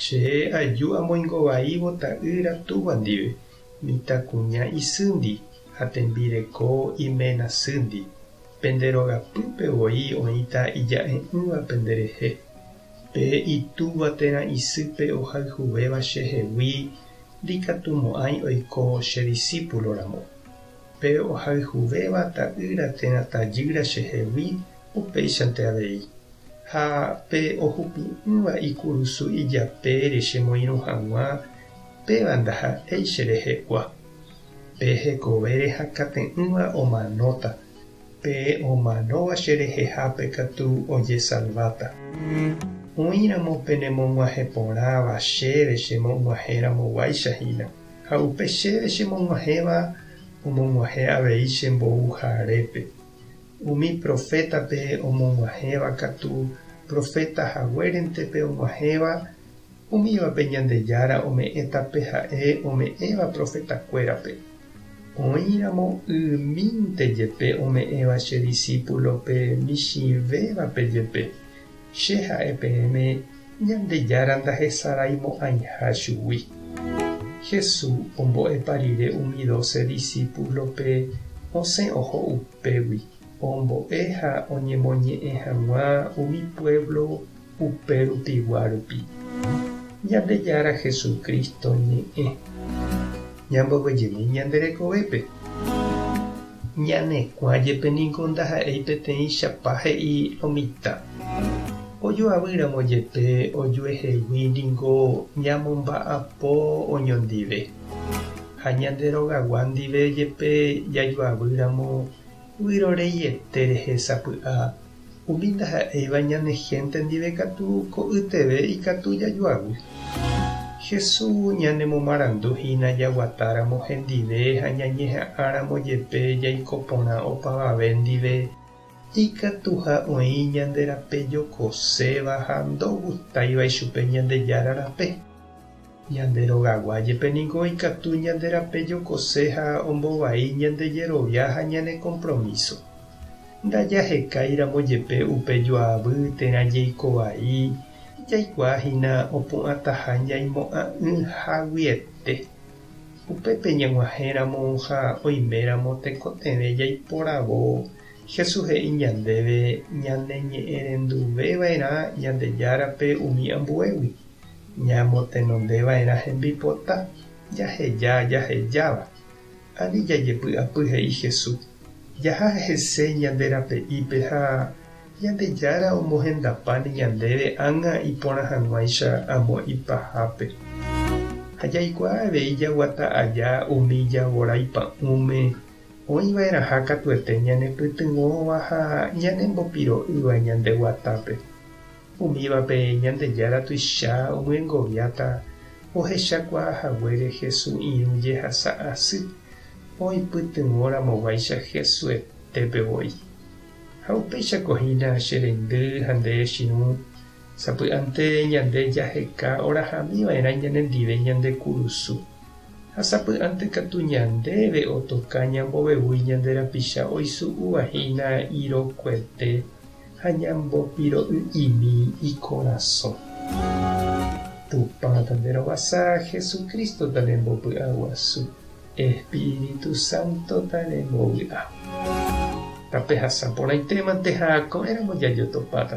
Che aju amoingo vaívo ta'ýra túva ndive, mitãkuña isýndi ha tembireko iména sýndi. Pende rogapýpe voi oĩta ija'e'ỹva pende rehe. Pe itúva térã isýpe ohayhuvéva chehegui ndikatumo'ãi oiko che disípulo ramo. Pe ohayhuvéva ta'ýra térã tajýra chehegui upéichante avei, ha pe ohupi'ỹva ikurusu ijapére chemoirũ hag̃ua, péva ndaha'éi cherehe'ua. Pe hekove rehakãte'ỹva omanóta, pe omanóva cherehehápe katu ojesalváta. Oĩramo penemog̃uahẽ porãva chéve chemo'g̃uahẽramoguáicha hína. Ha upe chéve chemog̃uahẽva omog̃uahẽ avei che mboúja arépe. Umi profétape omog̃uahẽva katu proféta haguérente pe og̃uahẽva, umívape Ñandejára ome'ẽta pe ha'e ome'ẽva profetakuérape. Oĩramo ymínte jepe ome'ẽva che disípulope michĩvévape jepe, Che ha'e peẽme Ñandejára ndahesaraimo'ãiha chugui. Jesús ombo'epa rire umi doce discípulo-pe osẽ oho upégui ombo'e ha oñemoñe'ẽ hag̃ua umi pueblo upe rupigua rupi. Ñandejára Jesucristo ñe'ẽ. Ñamboguejemi ñande rekovépe. Ñanekuã jepe ningo ndaha'éi peteĩchapa he'i lo mitã. Ojoavy ramo jepe ojuehegui ningo ñamomba'apo oñondive. Ha ñande rogagua ndive jepe jajoavy ramo, vyrorei ete rehe sapy'a Umi ndaha'éiva ñane hénte ndive katu ko'yteve ikatu jajoavy. Jesús ñanemomarandu hína jaguatáramo hendive ha ñañeha'ãramo jepe jaiko porã opavave ndive, ikatuha oĩ ñande rape jokoséva ha ndogustáiva ichupe Ñandejára rape. Ñande rogagua jepe ningo ikatu ñande rape jokose ha ombovai ñande jerovia ha ñane kompromíso. Ndajahekái ramo jepe upe joavy térã jeiko vai, jaikuaa hína opu'ãtaha ñaimo'ã'ỹ haguiete. Upépe ñag̃uahẽ ramo ha oime ramo tekotevẽ jaiporavo, Jesús he'i ñandéve ñaneñe'ẽrenduve va'erã Ñandejárape umi ambuégui. Ñamotenondeva'erã hembipota jaheja jahejáva, ani jajepy'apy he'i Hesu, jaha hese ñande rape'ípe ha Ñandejára omohendapáne ñandéve ág̃a iporã hag̃uáicha amo ipahápe. Ha jaikuaa avei jaguata aja umi javorái pa'ũme oĩva'erãha katuete ñanepytyvõva ha ñanembopiro'ýva ñande guatápe. Umívape Ñandejára tuicha omyengoviáta ohechakuaa haguére Hesu irũ jehasa asy oipytyvõ ramoguáicha Hesuetépe voi. Ha upéichako hína che reindy ha nde echirũ sapy'ánte ñande jaheka orahamí vaerã ñanendive ñande kurusu. Ha sapy'ánte katu ñandéve otoka ñambovevúi ñande rapicha oisu'úva hína irokuete. ha ñambopiro'y'imi ikorasõ. Tupãta nde rovasa, Jesucrístota ne mbopy'aguasu, Espíritu Sántota ne mbovy'a. Tape hasa porãite mante ha ko'ẽramo jajotopáta.